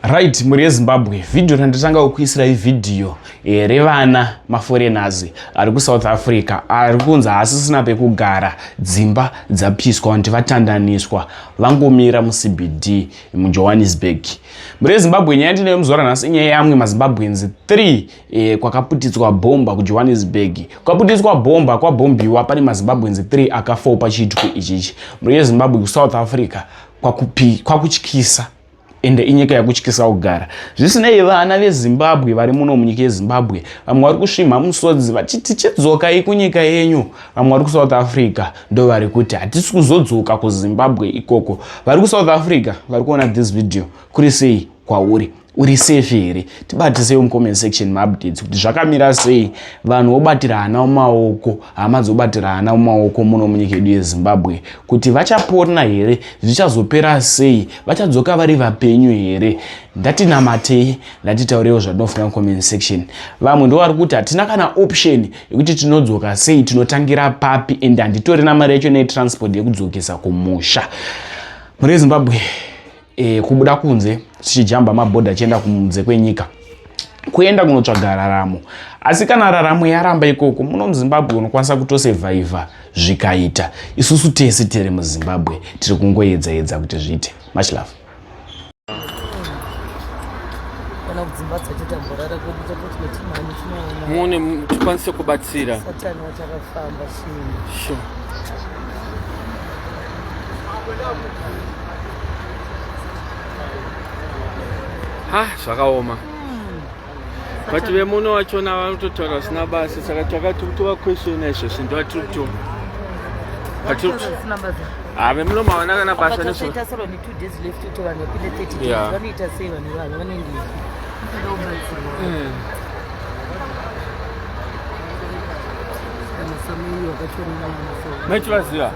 right mhuri yezimbabwe vhidhiyo randitanga kukuisirai vhidhiyo here vana maforeigners ari kusouth africa ari kunzi haasisina pekugara dzimba dzapiswa vanti vatandaniswa vangomira mucbd mujohannesburg mure zimbabwe nyaya ndinayo muzuva ranhasi inyaya yamwe mazimbabwenzi 3 eh, kwakaputidzwa bhomba kujohannesburg kwaputidzwa bhomba kwabhombiwa pane mazimbabwenzi 3 akafoo pachiitiko ichichi mure yezimbabwe kusouth africa kwakutyisa kwa ende inyika yakutyisa kugara zvisinei vana vezimbabwe vari muno munyika yezimbabwe vamwe vari kusvimha musodzi vachiti chidzokai kunyika yenyu vamwe vari kusouth africa ndo vari kuti hatisi kuzodzoka kuzimbabwe ikoko vari kusouth africa vari kuona this video kuri sei kwauri uri safe here tibatisei mucomment section maupdates kuti zvakamira sei vanhu vobatirana mumaoko hama dzobatirana mumaoko muno munyika yedu yezimbabwe kuti vachapona here zvichazopera sei vachadzoka vari vapenyu here ndatinamatei ndatitaurewo zvatinofunga mucomment section vamwe ndo vari kuti hatina kana option yekuti tinodzoka sei tinotangira papi and handitorina mari yacho netransport yekudzokesa kumusha muri zimbabwe e, kubuda kunze tichijamba mabhodha achienda kunze kwenyika kuenda kunotsvaga raramo asi kana raramo yaramba ikoko muno muzimbabwe unokwanisa kutosevhaivha zvikaita isusu tese tiri muzimbabwe tiri kungoedza edza kuti zviite much love muone tikwanise kubatsira sure. ha zvakaoma but vemuno vachona vanototaura vasina basa saka takati kutova question izvo zvinhu vatiri kutoma ave muno mavana kana basa nezvoita sero ne two days left kuti vanhu vapinde thirty days vanoita sei vanhu vavo vanenge maichivaziva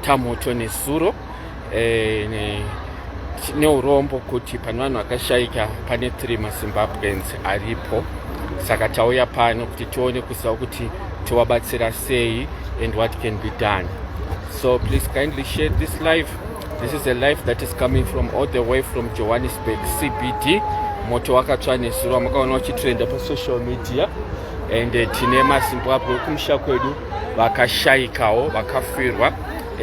Tamoto nezuro eh, ne, neurombo kuti pane vanhu vakashaika pane three mazimbabweans aripo saka tauya pano kuti tione kuziva kuti tovabatsira sei and what can be done so please kindly share this life this is a life that is coming from all the way from johannesburg cbd moto wakatsva nezuro makaona uchitrenda pasocial media and eh, tine mazimbabwe ekumusha kwedu vakashaikawo vakafirwa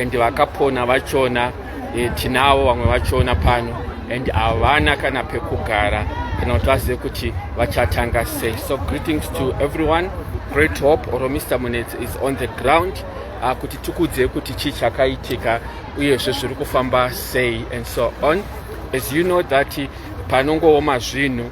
and vakapona vachona e, tinawo vamwe vachona pano and havana kana pekugara kana kuti vazive kuti vachatanga sei so greetings to everyone great hope or mr munets is on the ground uh, kuti tikudzei kuti chii chakaitika uyezve zviri kufamba sei and so on as you know that panongooma zvinhu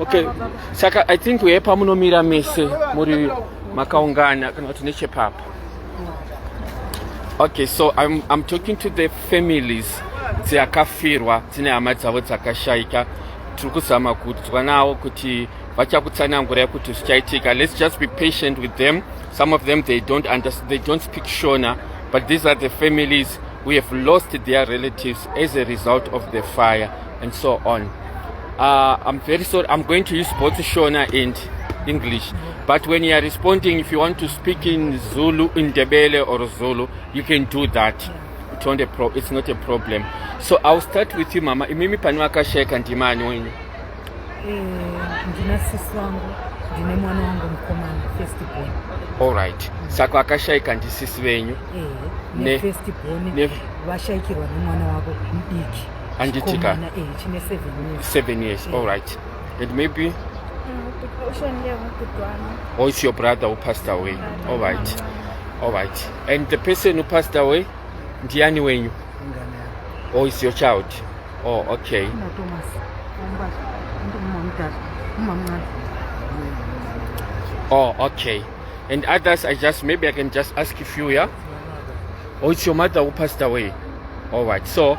Okay, saka I think we pamunomira mese muri makaungana kana kuti nechepapa. Okay, so I'm, I'm talking to the families dzakafirwa dzine hama dzavo dzakashaika tiri kuzama kudzwa nawo kuti vachakutsanangurai kuti zvichaitika let's just be patient with them some of them they don't, they don't speak shona but these are the families who have lost their relatives as a result of the fire and so on. Uh, I'm very sorry, I'm going to use both Shona and English. But when you are responding, if you want to speak in Zulu, in Debele or Zulu, you can do that. It's not a, pro it's not a problem. So I'll start with you, Mama. Imimi panuaka sheka ndimani wenyu? Eh, ndina sisi wangu, ndine mwana wangu mkomana, first born. All right. Mm. Sako akashaika ndi sisi venyu? Eh, ne, ne first born. Ne, vashaikirwa nemwana wako mdiki. anditika 7 years all right and maybe uh, oh it's your brother who passed away all right all right and the person who passed away ndiani wenyu oh it's your child oh okay oh okay and others i just maybe i can just ask a few yeah oh it's your mother who passed away all right so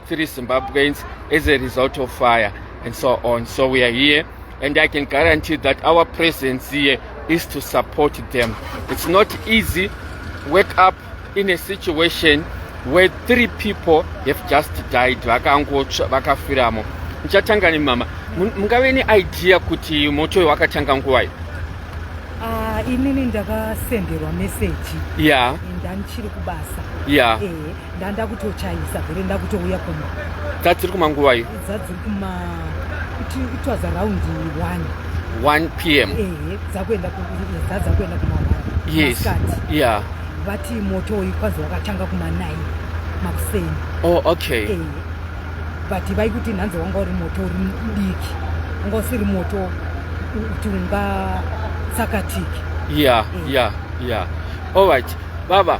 three Zimbabweans as a result of fire and so on. So we are here and I can guarantee that our presence here is to support them. It's not easy wake up in a situation where three people have just died vakangotsva vakafiramo ndichatanga nemama mungave neidea kuti moto uyo wakatanga nguvai ah, inini ndakasenderwa meseji ya yeah. ndandichiri kubasa ya yeah. e. ndanda kutochaisa vere ndakutouya kumba dza dziri kuma nguva iyo dza dziri kuma kuti it was around 1 1 pm ehe dzakuenda dza dzakuenda kuma yes yeah vati moto uyu kwanzi wakatanga kuma 9 makuseni oh okay ehe but vaikuti nhanzi wanga uri moto uri mudiki wanga usiri moto kuti unga tsakatiki yeah yeah yeah all right baba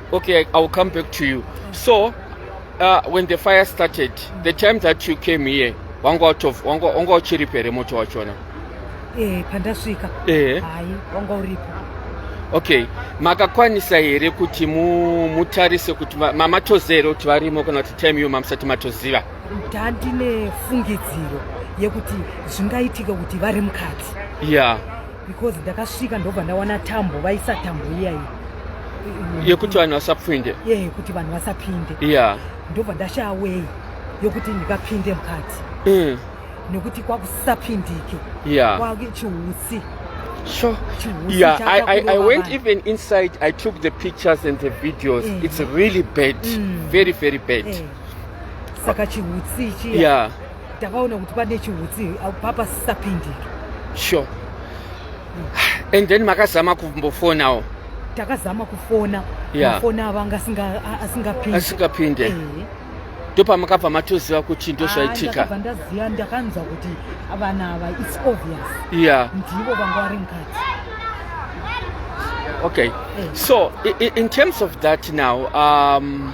Okay, I, I'll come back to you. So, uh, when the fire started, the time that you came here, wanga out of wanga wanga uchiri pere moto wachona? Eh, pandasvika. Eh. Hai, wanga uripo. Okay, makakwanisa here kuti mu mutarise kuti mamatozere kuti varimo kana kuti time yo mamusati matoziva? Ndandine fungidziro yekuti zvingaitika kuti vari mukati. Yeah. because ndakasvika ndobva ndawana tambo vaisa tambo iyayi yekuti vanhu vasapinde ye yekuti vanhu vasapinde ya ndobva ndashaya weyi yokuti ndikapinde mukati mm. nekuti kwakusapindike ya kwachiutsi Sure. Yeah, I, I, I went even inside. I took the pictures and the videos. Mm. It's really bad. Mm. Very, very bad. Mm. Saka chiutsi chiya. Yeah. takaona kuti pane chihutsi papa sisapindiki sure and then makazama kumbofonawo takazama kufona yeah. mafoni avo anga asingapinde asingapinde eh. ndopamakabva matoziva kuti ndozvaitika ah, ndaziva ndakanzwa kuti vana ava its obvious yeah. ndivo vanga vari mukati okay eh. so in terms of that now um,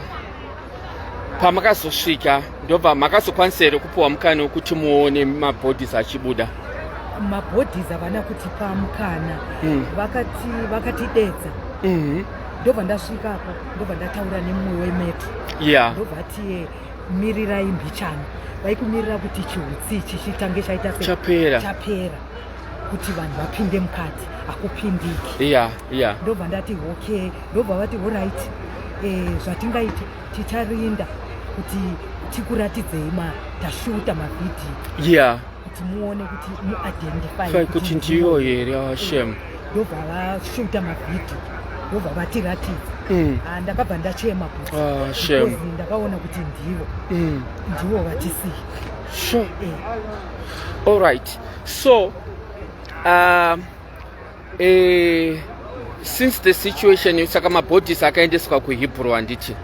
pamakazosvika ndobva makazokwanisa here kupiwa mukana wekuti muone mabodies achibuda mabodies havana kutipa mukana mm. vakati vakatidedza mm -hmm. ndobva ndasvika apa ndobva ndataura nemumwe wemeto yeah. ndobva ati mirirai mbichana vaikumirira kuti chiutsi chichitange chaita chapera chapera kuti vanhu vapinde mukati hakupindiki iya iya ndobva ndati okay ndobva vati orit eh, zvatingaite ticharinda kuti tikuratidzei ma tashuta mavhidhiyo iya kuti muone kuti muidentify kuti ndiyo here ah, shem ndobva vashuta mavhidhiyo ndobva vatiratidza mm. ah, ndakabva ndachema kuti ah, ndakaona kuti ndivo mm. ndivo vatisiya sure. eh. all right so uh, eh, since the situation saka mabodies akaendeswa kuhebrew handiti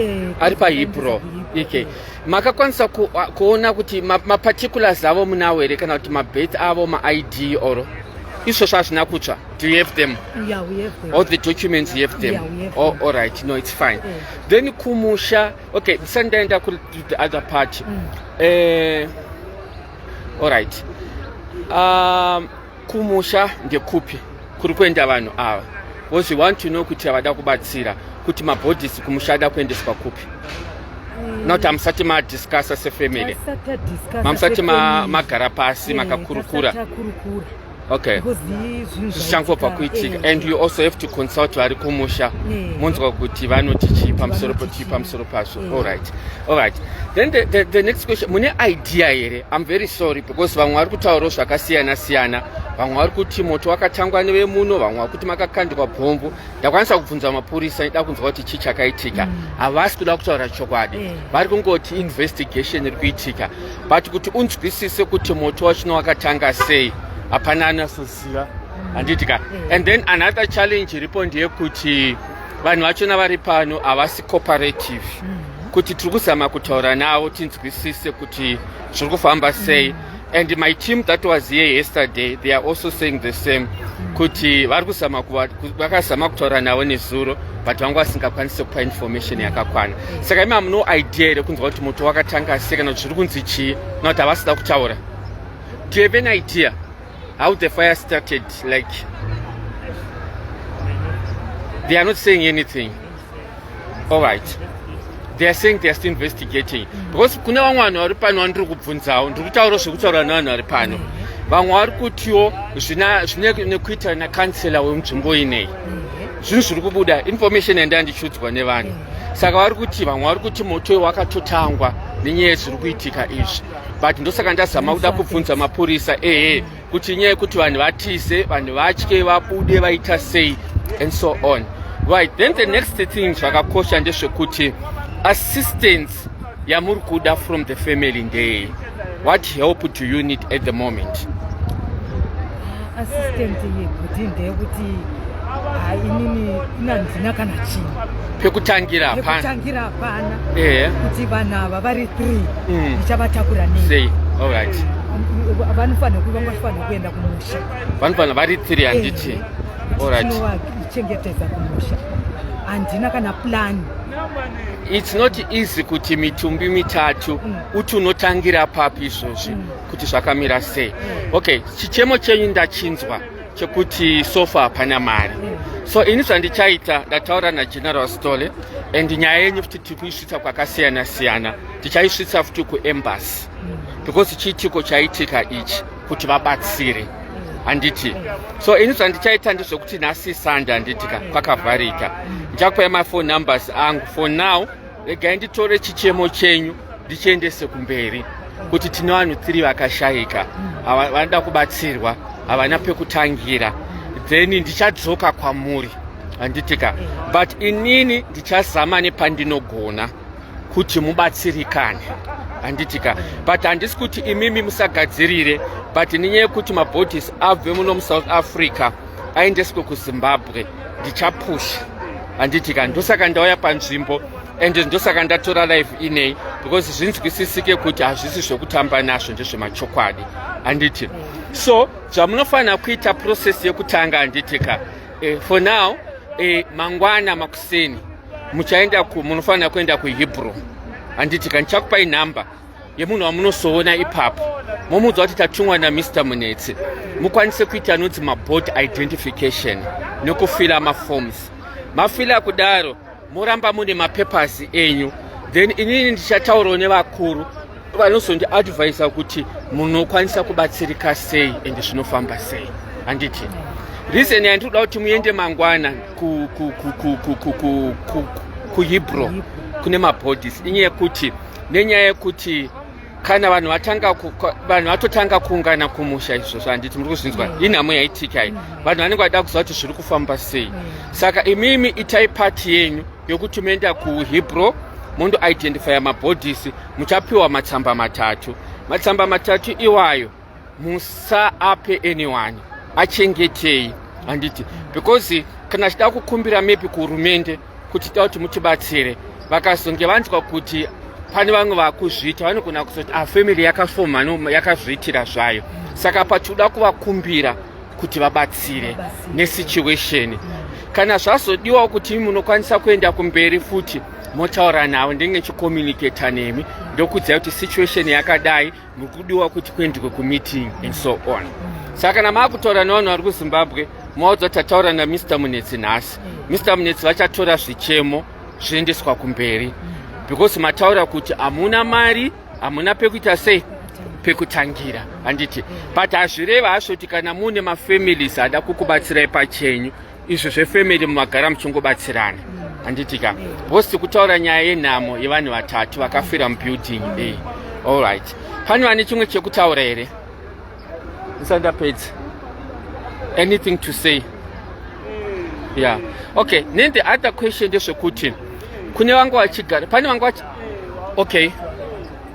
eh, ari pahebrew okay makakwanisa ku, uh, kuona kuti maparticulars ma avo munavo here kana kuti mabeth avo maid or izvozvo hazvina kutsva do you have them yeah, we have them. all the documents you have them, yeah, we have oh, them. all right no it's fine yeah. then kumusha okay ndisandaenda ku the other party mm. eh, Alright. Um, kumusha ndekupi kuri kuenda vanhu ava because we want to know kuti avada kubatsira kuti mabodies kumusha ada kuendeswa kupi mm. not amusati madiscussa sefamily mamusati magara pasi eh, makakurukura okay zvichangwa pakuitika eh. and you also have to consult vari kumusha eh. monzwa kuti vanoti chii pamusoro pochii pamusoro pazvo eh. allright allright then the, the, the next question mune idea here im very sorry because vamwe vari kutaurawo zvakasiyana siyana vamwe vari kuti moto wakatangwa nevemuno vamwe vari kuti makakandikwa bhombu ndakwanisa kubvunza mapurisa ida kunzwa kuti chii chakaitika mm. havasi kuda kutaura chokwadi vari kungoti investigation iri kuitika but kuti unzwisise kuti moto wachino wakatanga sei hapana anasoziva handiti ka mm. and then another challenge iripo ndeyekuti vanhu vachona vari pano havasi cooperative mm. kuti tiri kuzama kutaura navo tinzwisise kuti zviri kufamba sei mm. and my team that was here yesterday they are also saying the same kuti vari kuzama vakazama kutaura navo nezuro but vanga vasingakwanise kupa information yakakwana saka imi hamuno idea here kunzwa kuti moto wakatanga sei kana kuti zviri kunzi chii kana kuti havasida kutaura do you have an idea how the fire started like they are not saying anything all right they are saying they are still investigating because kune vamwe vanhu vari pano vandiri kubvunzawo ndiri kutaura zvekutaura nevanhu vari pano vamwe vari kutiwo zvine nekuita nekansela wemunzvimbo ineyi zvinhu zviri kubuda information yandanga ndichiudzwa nevanhu saka vari kuti vamwe vari kuti moto iwo wakatotangwa nenyaya yezviri kuitika izvi but ndosaka ndazama kuda kubvunza mapurisa ehe kuti nyaya yekuti vanhu vatize vanhu vatye vabude vaita sei and so on right then the next thing zvakakosha ndezvekuti assistance yamuri kuda from the family ndeye What help do you need at the moment? Assistant yekuti ndeyekuti ah, inini inandina kana chinhu pekutangira hapana pekutangira hapana eh kuti vanhu ava vari 3 mm. ndichavatakura nei sei all right vanofanira kuva vanofanira kuenda kumusha vanofanira vari 3 handiti eh, all right chengetedza kumusha handina kana plani it's not easy kuti mitumbi mitatu mm. uti unotangira papi izvozvi mm. kuti zvakamira sei mm. okay chichemo chenyu ndachinzwa chekuti sofa hapana mari mm. so ini zvandichaita ndataura nageneral stole and nyaya yenyu futi tiri kuisvitsa kwakasiyana siyana tichaisvitsa futi kuembassy mm. because chiitiko chaitika ichi kuti vabatsire mm handiti so ini zvandichaita ndezvekuti nhasi sande handiti ka kwakavharika ndichakupai mafone numbers angu for now regai nditore chichemo chenyu ndichiendese kumberi kuti tine vanhu tiri vakashaika vanoda kubatsirwa havana pekutangira then ndichadzoka kwamuri handitika but inini ndichazama nepandinogona kuti mubatsirikane handitika but handisi kuti imimi musagadzirire but nenyaya yekuti mabhodhisi abve muno musouth africa aendeswe kuzimbabwe ndichapusha handiti ka ndosaka ndauya panzvimbo and ndosaka ndatora live inei because zvinzwisisike kuti hazvisi zvekutamba nazvo ndezvemachokwadi handiti so zvamunofanira kuita process yekutanga handiti ka eh, for now eh, mangwana makuseni muchaenda munofanira kuenda kuhebrew handiti ka ndichakupai number yemunhu wamunosoona ipapo momuudza kuti tatumwa namr munetsi mukwanise kuita anonzi maboard identification nekufila maforms mafila kudaro moramba mune mapapers enyu then inini ndichataurawo nevakuru vanozondiadvisa kuti munokwanisa kubatsirika sei and zvinofamba sei handiti reason yandinoda kuti muende mangwana kuhebrew kune mabodies inyaya yekuti nenyaya yekuti kana vanhu vatanga vanhu vatotanga kuungana kumusha izvozvo handiti muri kuzvinzwa mm. inhamo yaitika iyi mm. vanhu vanenge vachida kuziva kuti zviri kufamba sei mm. saka imimi itai pati yenyu yokuti moenda kuhebro mondo identifya mabhodhisi muchapiwa matsamba matatu matsamba matatu iwayo musaape anyone achengetei handiti because kana chida kukumbira mepi kuhurumende kuti tida kuti mutibatsire vakazonge vanzwa kuti pane vamwe vakuzviita vanogona kuzoti ah, family yakafoma no yakazviitira zvayo saka patinoda kuvakumbira kuti vabatsire nesituation kana zvazodiwawo kuti munokwanisa kuenda kumberi futi motaura navo ndenge chicomunicata nemi ndokudzai kuti situation yakadai mukudiwa kuti kuendwe kumeeting and so on saka kana maakutaura nevanhu vari kuzimbabwe maudza tataura namr munetsi nhasi mr munetsi vachatora zvichemo zviendeswa kumberi because mataura kuti hamuna mari hamuna pekuita sei pekutangira handiti but hazvireva hazvoti kana muine mafamilies ada kukubatsirai pachenyu izvo zvefamily mumagara muchingobatsirana handitika bhosi tikutaura nyaya yenhamo yevanhu vatatu vakafira mubuilding iyi allright pane vane chimwe chekutaura here ndisandapedza anything to say yeah okay then the other question ndezvekuti kune vanga vachigara pane vanga vachi okay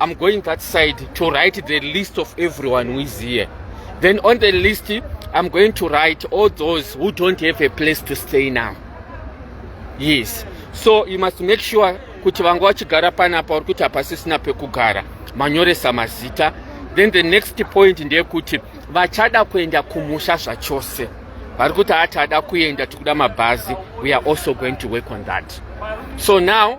I'm going that side to write the list of everyone who is here. Then on the list, I'm going to write all those who don't have a place to stay now. Yes. So you must make sure kuti vanga vachigara panapa uri kuti hapasisina pekugara manyoresa mazita then the next point ndeyekuti vachada kuenda kumusha zvachose vari kuti hati ada kuenda tikuda mabhazi we are also going to work on that so now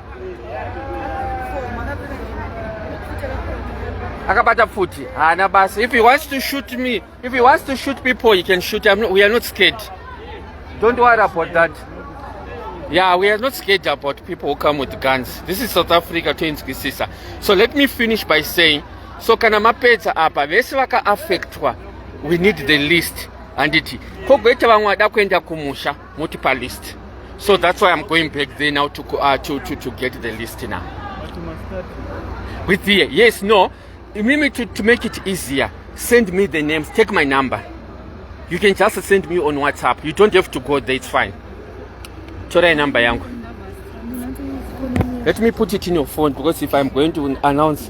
akabata pfuti haana basa if he wants to shoot me if he wants to shoot people he can shoot not, we are not scared don't worry about that yeah we are not scared about people who come with guns this is south africa toinzwisisa so let me finish by saying so kana mapedza apa vese vakaaffectwa we need the list handiti kogoita vamwe vada kuenda kumusha motipa list so that's why i'm going back there now to, uh, to, to, to get the list now with the yes no mimi to, to make it easier send me the names take my number you can just send me on whatsapp you don't have to go there it's fine torai number yangu let me put it in your phone because if i'm going to announce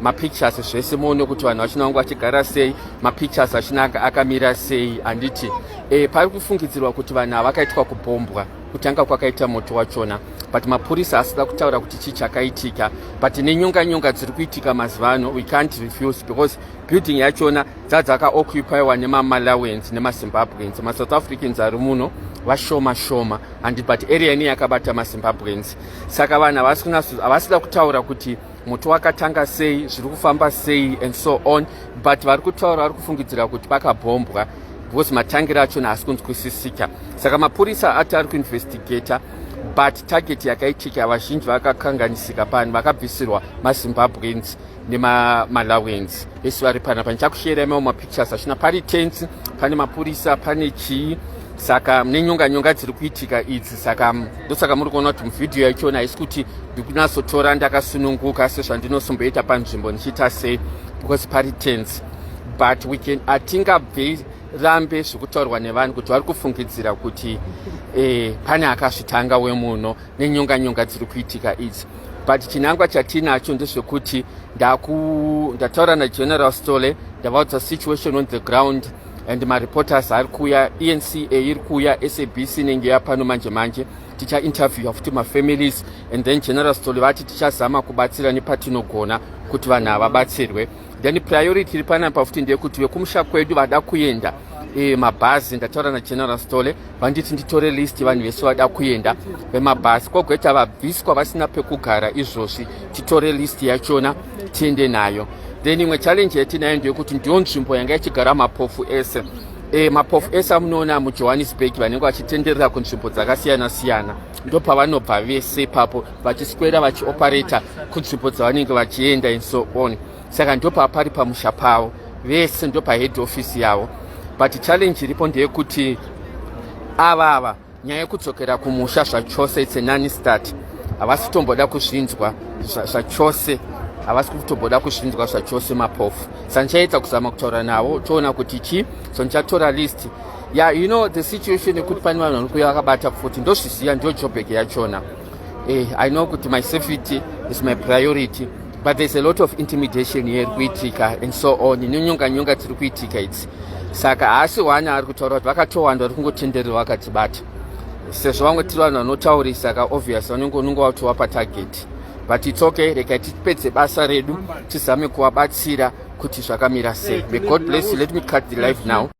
mapictures zvese muone kuti vanhu vachina vanga vachigara sei mapictures achina akamira sei handiti e, pari kufungidzirwa kuti vanhu havakaitwa kubhombwa kutanga kwakaita moto wachona but mapurisa asida kutaura kuti chii chakaitika but nenyonga nyonga dziri kuitika mazuva ano we can't refuse because building yachona dzadzakaoccupyiwa nemamalawians nemazimbabweans masouth africans ari muno vashoma shoma and but area ine yakabata mazimbabweans saka vanhu havasida kutaura kuti muti wakatanga sei zviri kufamba sei and so on but vari kutaura vari kufungidzira kuti pakabhombwa because matangiro achona haasi kunzwisisika saka mapurisa ati ari kuinvestigata but target yakaitika vazhinji vakakanganisika pano vakabvisirwa mazimbabweans nemamalawians vese vari pana panichakushera imao mapictures achina pari tensi pane mapurisa pane chii saka mune nyonga nyonga dziri kuitika idzi saka ndosaka muri kuona kuti muvhidhiyo yachona haisi kuti ndikunatsotora ndakasununguka sezvandinosomboita panzvimbo ndichiita sei because pari tense but we can atingabvei rambe zvekutaurwa nevanhu kuti vari kufungidzira kuti eh, pane akazvitanga wemuno nenyonga nyonga dziri kuitika idzi but chinangwa chatiinacho ndezvekuti ndataura nageneral stole ndavaudza situation on the ground and mareporters ari kuuya enca iri kuuya sabc inenge yapano manje manje tichainterviewa futi mafamilies and then general stoli vati tichazama kubatsira nepatinogona kuti vanhu havabatsirwe then priority iri panapa futi ndeyekuti vekumusha kwedu vada kuenda e, mabhazi ndataura nageneral stole vanditi nditore list yevanhu vese vada kuenda vemabhasi kwogoita vabviswa vasina pekugara izvozvi titore list yachona tiende nayo then imwe challenge yatinayo ndeyekuti ndiyo nzvimbo yanga ichigara mapofu ese e, mapofu ese amunoona mujohannesburg vanenge vachitenderera kunzvimbo dzakasiyana siyana ndo pavanobva vese ipapo vachiswera vachioperata kunzvimbo dzavanenge vachienda and so on saka ndopapari pamusha pavo vese ndopahead office yavo but challenge iripo ndeyekuti ava ava nyaya yekudzokera kumusha zvachose its anani start havasi kutomboda kuzvinzwa zvachose havasi kutomboda kuzvinzwa zvachose mapofu sa ndichaedza kuzama kutaura navo toona kuti chii so ndichatora list ya yeah, you know the situation yekuti pane vanhu vanokuya vakabata futi ndozviziva ndiyo jobek yachona eh, i know kuti my safety is my priority but there's a lot of intimidation here iri kuitika and so on inyonga nyonga tiri kuitika idzi saka haasi wani ari kutaura kuti vakatowanda vari kungotenderera vakatibata sezvo vamwe tiri vanhu vanotaurisa ka obvious vanenge unenge watova patarget but its okay regai tipedze basa redu tizame kuvabatsira kuti zvakamira sei may god bless you let me cut the life now